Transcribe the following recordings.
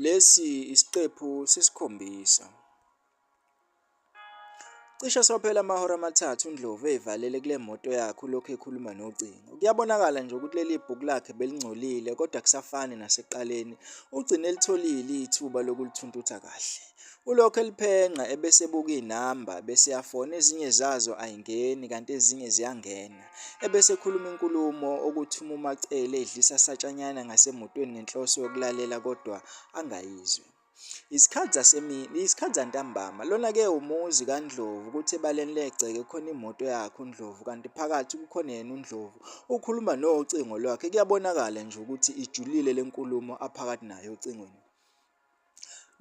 Lesi isiqephu sesikhombisa. Cishe sophela amahora amathathu uNdlovu eyivalele kule moto yakhe ulokhu ekhuluma nocingo. Kuyabonakala nje ukuthi leli bhuku lakhe belingcolile kodwa kusafani nasekuqaleni. Ugcine elitholile ithuba lokulithuntutha kahle. Ulokhu eliphenqa ebese ebuka inamba bese yafona ezinye zazo ayingeni kanti ezinye ziyangena. ebesekhuluma inkulumo okuthi umumacele edlisa satshanyana ngasemotweni ngenhloso yokulalela kodwa angayizwe Isikhathi zasemini, isikhathi zantambama. Lona-ke umuzi kaNdlovu, kuthi ebaleni legceke khona imoto yakhe uNdlovu, kanti phakathi kukhona yena uNdlovu. Ukhuluma nocingo lwakhe, kuyabonakala nje ukuthi ijulile le nkulumo aphakathi nayo ocingweni.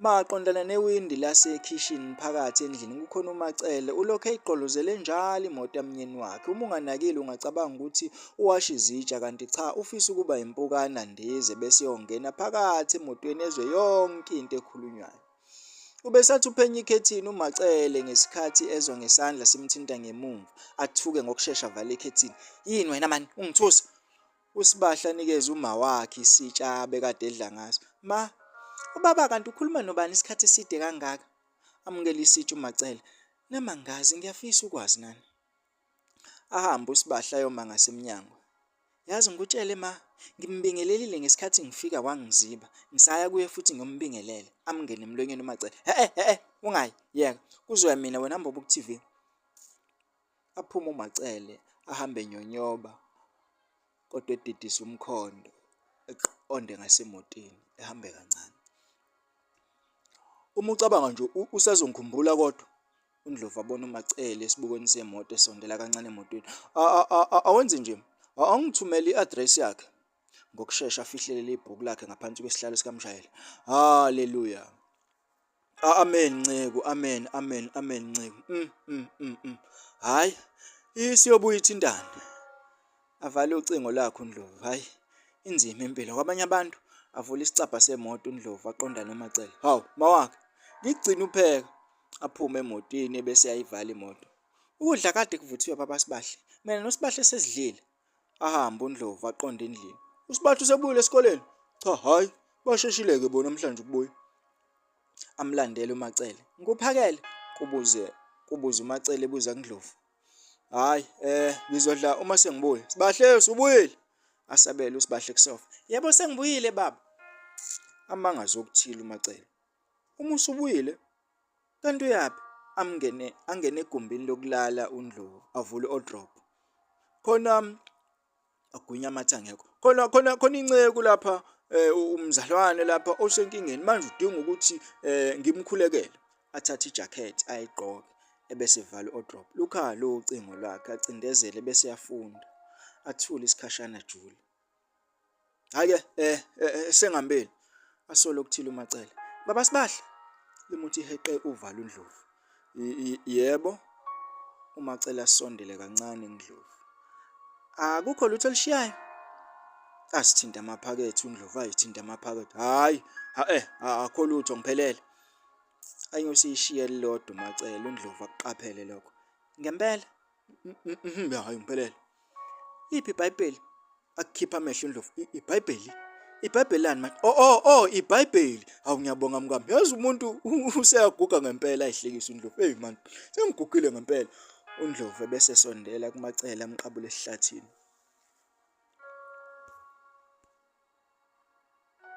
Maqondana newindi lasekhishini phakathi endlini kukhona uMacele ulokhu eyigqolozele njalo imoto yamnyeni wakhe. Uma unganakile ungacabanga ukuthi uwasha izitsha kanti cha ufisa ukuba impukana ndize bese yongena phakathi emotweni ezwe yonke into ekhulunywayo. Ubesathi uphenya ikhethini uMacele ngesikhathi ezwa ngesandla simthinta ngemumva athuke ngokushesha vale ikhethini. Yini wena mani ungithusa? USbahle anikeze umawakhe isitsha abekade edla ngaso. Ma, ubaba kanti ukhuluma nobani isikhathi eside kangaka? Amukela isitsha uMacele. Nami angazi ngiyafisa ukwazi nani. Ahambe uSbahle ayoma ngasemnyango. Yazi ngikutshele ma, ngimbingelelile ngesikhathi ngifika wangiziba. Ngisaya kuye futhi ngiyombingelela. Amngene emlonyeni uMacele. He-e, he-e, ungayi, yeka. Kuzoya mina wena mbobo ku-TV. Aphume uMaCele ahambe enyonyoba kodwa edidisa umkhondo eqonde ngasemotini ehambe kancane. Uma ucabanga nje usazongikhumbula kodwa uNdlovu abona uMacele esibukweni semoto esondela kancane emotweni. Awenze nje, awungithumele i-address yakhe. Ngokushesha afihlelele ibhuku lakhe ngaphansi kwesihlalo sikamshayeli. Haleluya! Amen nceku amen amen amen nceku mm mm mm, mm. hayi isiyobuya ithintana avale ucingo lakhe uNdlovu hayi inzima impilo kwabanye abantu avula isicabha semoto uNdlovu aqondane uMacele hawu mawakhe ngigcina upheka aphume emotini bese ayivala imoto ukudla kade kuvuthiwe babasibahle mina nosibahle sesidlile Ahambe uNdlovu aqonde endlini. USibatha usebuyile esikoleni? Cha, hhayi, basheshile-ke bona namhlanje ukubuya. Amlandele uMacele. Ngikuphakele? kubuze kubuza uMacele ebuza kuNdlovu. Hhayi, eh ngizodla uma sengibuya. Sibahle usubuyile? Asabele uSibahle kusofa. Yebo sengibuyile baba. Amanga zokuthile uMacele. Uma usubuyile Kanti uyaphi? Amngene angene egumbini lokulala uNdlovu avule odrop. Khona agwinya amathe angekho. Khona khona khona inceku lapha eh, umzalwane lapha osenkingeni manje udinga ukuthi eh, ngimkhulekele athathe ijacket ayigqoke ebese vala odrop. Lukhala ucingo lwakhe acindezele bese yafunda. Athule isikhashana jule. Hake eh, eh, eh sengambeli asolo kuthile umacele. Baba sibahle limuthi heqe uvala uNdlovu. Yebo umacele asondele kancane uNdlovu. Akukho lutho elishiyayo. Asithinta amaphakethe uNdlovu ayithinta amaphakethe. Hayi, ha eh akho lutho ngiphelele. Ayosishiya lodwa umacele uNdlovu akuqaphele lokho. Ngempela hayi ngiphelele liphi ibhayibheli akukhipha amehlo indlovu ibhayibheli ibhayibheli lani manje o oh, o oh, o oh, ibhayibheli hawu ngiyabonga mkami yazi umuntu useyaguga ngempela ayihlekisa undlovu eyi manje sengigugile ngempela undlovu ebese sondela kumacele amqabule esihlathini